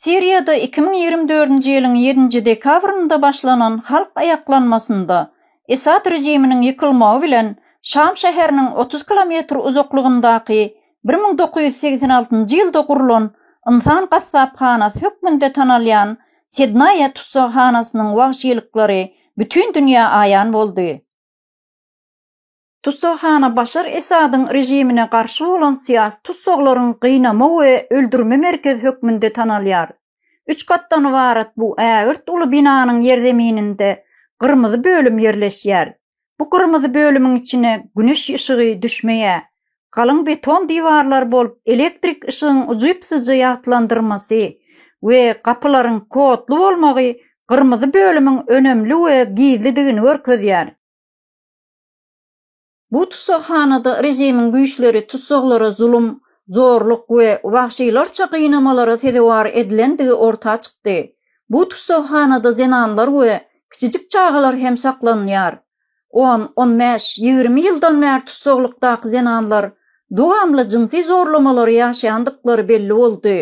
Siriýada iki müň ýigrimi dördünji ýylyň ýedinji dekabrynda başlanan halk aýaklanmasynda Esad režiminiň ýykylmagy bilen Şam şäheriniň otuz kilometr uzaklygyndaky bir müň dokuz ýüz segsen altynjy ýylda gurlan ynsan gassaphanasy hökmünde tanalýan Sednaýa tussaghanasynyň wagşylyklary bütin dünýä aýan boldy. Tussaghana Başar Esadyň režimine garşy bolan syýasy tussaglaryň gynama we öldürme merkezi hökmünde tanalýar. Üç gatdan ybarat bu ägirt uly binanyň ýerzemininde gyrmyzy bölüm ýerleşýär. Bu gyrmyzy bölümiň içine güneş yşygy düşmeýär. Galyň beton diwarlar bolup elektrik yşygyň ujypsyzja ýagtylandyrmasy we gapylaryň kodly bolmagy gyrmyzy bölümiň önemli we gizlidigini görkezýär. Bu tussaghanada režimiň güýçleri tussaglara zulum, zorluk we wagşylarça gynamalara sezewar edilendigi orta çykdy. Bu tussaghanada zenanlar we kiçijik çagalar hem saklanylýar. On, on bäş, ýigrimi ýyldan bäri tussaglykdaky zenanlar dowamly jynsy zorlamalary ýaşaýandyklary belli boldy.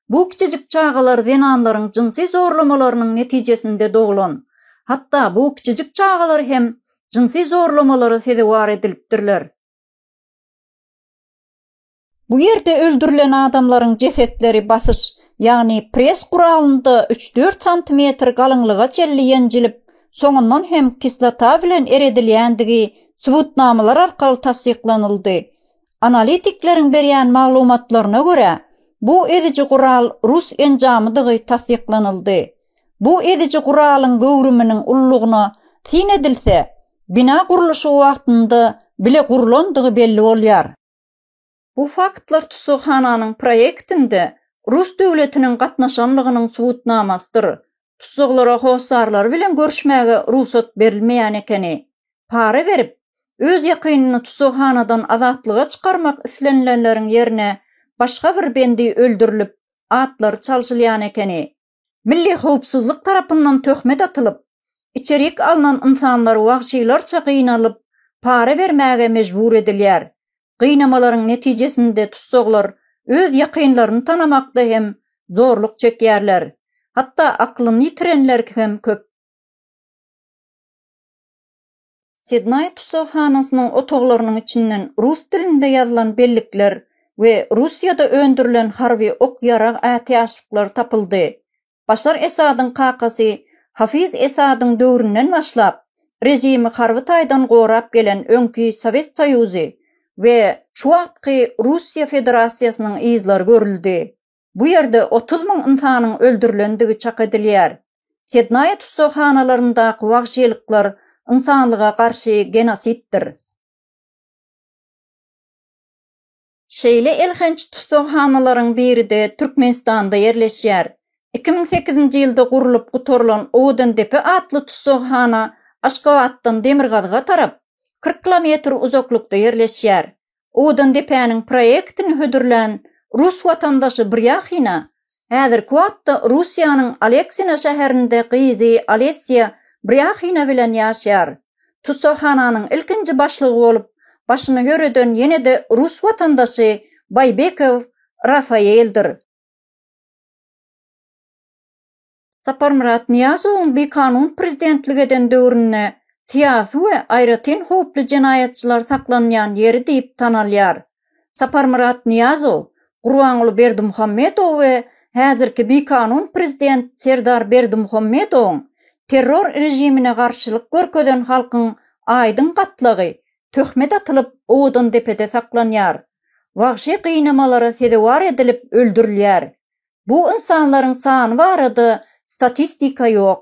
Bu kiçijik çagalar zenanlaryň jynsy zorlamalarynyň netijesinde doglan. Hatda bu kiçijik çagalar hem jynsy zorlamalara sezewar edilipdirler. Bu ýerde öldürilen adamlaryň jesetleri basyş, ýagny press guralynda üç-dört santimetr galyňlyga çenli ýenjilip, soňundan hem kislota bilen eredilýändigi subutnamalar arkaly tassyklanyldy. Analitikleriň berýän maglumatlaryna görä, bu eziji gural rus enjamydygy tassyklanyldy. Bu ediji guralyň göwrüminiň ullugyna syn edilse, bina gurluşygy wagtynda bile gurlandygy belli bolýar. Bu faktlar tussaghananyň proýektinde rus döwletiniň gatnaşanlygynyň subutnamasydyr. Tussaglara hossarlary bilen görüşmäge rugsat berilmeýän ekeni. Para berip, öz ýakynyny tussaghanadan azatlyga çykarmak islenilenleriň ýerine başga bir bendi öldürilip, atlary çalşylýan ekeni. Milli howpsuzlyk tarapyndan töhmet atylyp, içerik alnan ynsanlar wagşylarça gynalyp, para bermäge mejbur edilýär. Gynamalaryň netijesinde tussaglar öz ýakynlaryny tanamakda hem zorluk çekýärler. Hatda aklyny ýitirenler hem köp. Sidnaý tussaghanasynyň otaglarynyň içinden rus dilinde ýazylan bellikler we Russiýada öndürilen harby ok-ýarag ätiýaçlyklary tapyldy. Başar Esadyň kakasy Hafiz Esadyň döwründen başlap, režimi harby taýdan gorap gelen öňki Sowet Soýuzy we şu wagtky Russiýa Federasiýasynyň yzlary görüldi. Bu ýerde otuz müň ynsanyň öldürilendigi çak edilýär. Sednaýa tussaghanalaryndaki wagşylyklar ynsanlyga garşy genositdir. Şeýle elhenç tussaghanalaryň biri-de Türkmenistanda ýerleşýär. Iki müň sekizinji ýylda gurlup gutarylan Owadandepe atly tussaghana Aşgabatdan demirgazyga tarap kyrk kilometr uzaklykda ýerleşýär. Odandepäniň proýektini hödürlän rus watandaşy Brýahina häzirki wagtda Russiýanyň Aleksina şäherinde gyzy Alesýa Brýahina bilen ýaşýar. Tussaghananyň ilkinji başlygy bolup başyny ýöreden ýene-de rus watandaşy Baýbekow Rafaeldir. Saparmyrat Nyýazowyň bikanun prezidentlik eden döwründe syýasy we aýratyn howply jenaýatçylar saklanýan ýeri diýip tanalýar. Saparmyrat Nyýazow, Gurbanguly Berdimuhamedow we häzirki bikanun prezident Serdar Berdimuhamedowyň terror režimine garşylyk görkezen halkyň aýdyň gatlagy töhmet atylyp Owodandepede saklanýar, wagşy gynamalara sezewar edilip öldürilýär. Bu ynsanlaryň sany barada statistika ýok.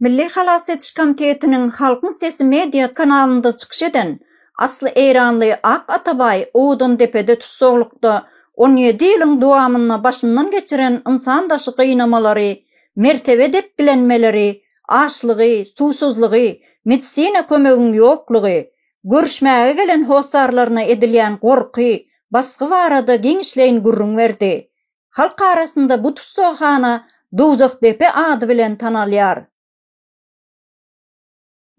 Milli halas ediş komitetiniň Halkyň sesi media kanalynda çykyş eden asly eýranly Ak Atabaý Owdandepede tussaglykda on ýedi ýylyň dowamynda başyndan geçiren ynsan daşy gynamalary, mertebe depgilenmeleri, açlygy, suwsuzlygy, medisina kömegiň ýoklugy, görüşmäge gelen hossarlaryna edilýän gorky, basgy barada giňişleýin gürrüň berdi. Halk arasynda bu tussaghana Dowzahdepe ady bilen tanalýar.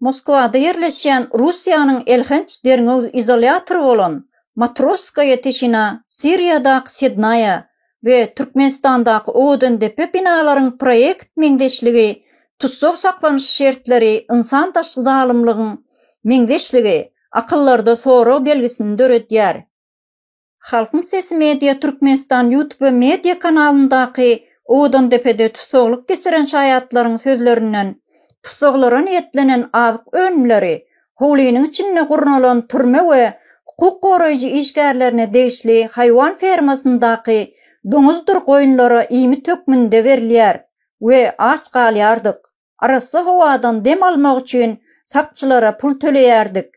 Moskwada ýerleşýän Russiýanyň elhenç derňew izolýatory bolan Matrosskaýa Teşina Siriýadaky Sednaýa we Türkmenistandaky Owadandepe binalaryň proýekt meňzeşligi Tussag saklanyş şertleri ynsan daşly zalymlygyň meňzeşligi akyllarda sorag belgisini döredýär. Halkyň sesi media Türkmenistan YouTube media kanalyndaky Owdandepede tussaglyk geçiren şaýatlaryň sözlerinden, tussaglara niýetlenen azyk önümleri howlynyň içinde gurnalan türme we hukuk goraýjy işgärlerine degişli haýwan fermasyndaky doňuzdyr goýunlara iýmit hökmünde berilýär we aç galýardyk. arassa howadan dem almak üçin sakçylara pul töleýärdik.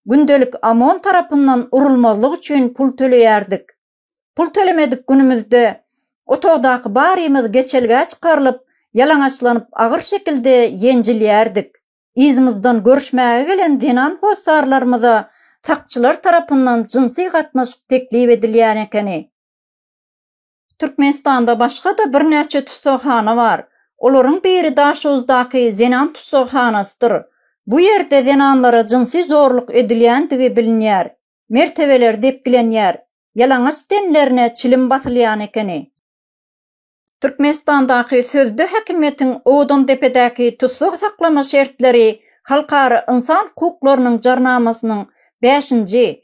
Gündelik OMON tarapyndan urulmazlyk üçin pul töleýärdik. Pul tölemedik günümizde otagdaky barymyz geçelgä çykarylyp, ýalaňaçlanyp agyr şekilde ýenjilýärdik. Yzymyzdan görüşmäge gelen zenan hossarlarymyza sakçylar tarapyndan jynsy gatnaşyk teklip edilýän ekeni. Türkmenistanda başga-da birnäçe tussaghana bar. Olaryň biri Daşoguzdaky zenan tussaghanasydyr. Bu ýerde zenanlara jynsy zorluk edilýändigi bilinýär. Mertebeler depgilenýär. Ýalaňaç tenlerine çilim basylýan ekeni. Türkmenistandaky sözde häkimiýetiň Odandepedäki tussag saklama şertleri Halkara ynsan hukuklarynyň jarnamasynyň bäşinji,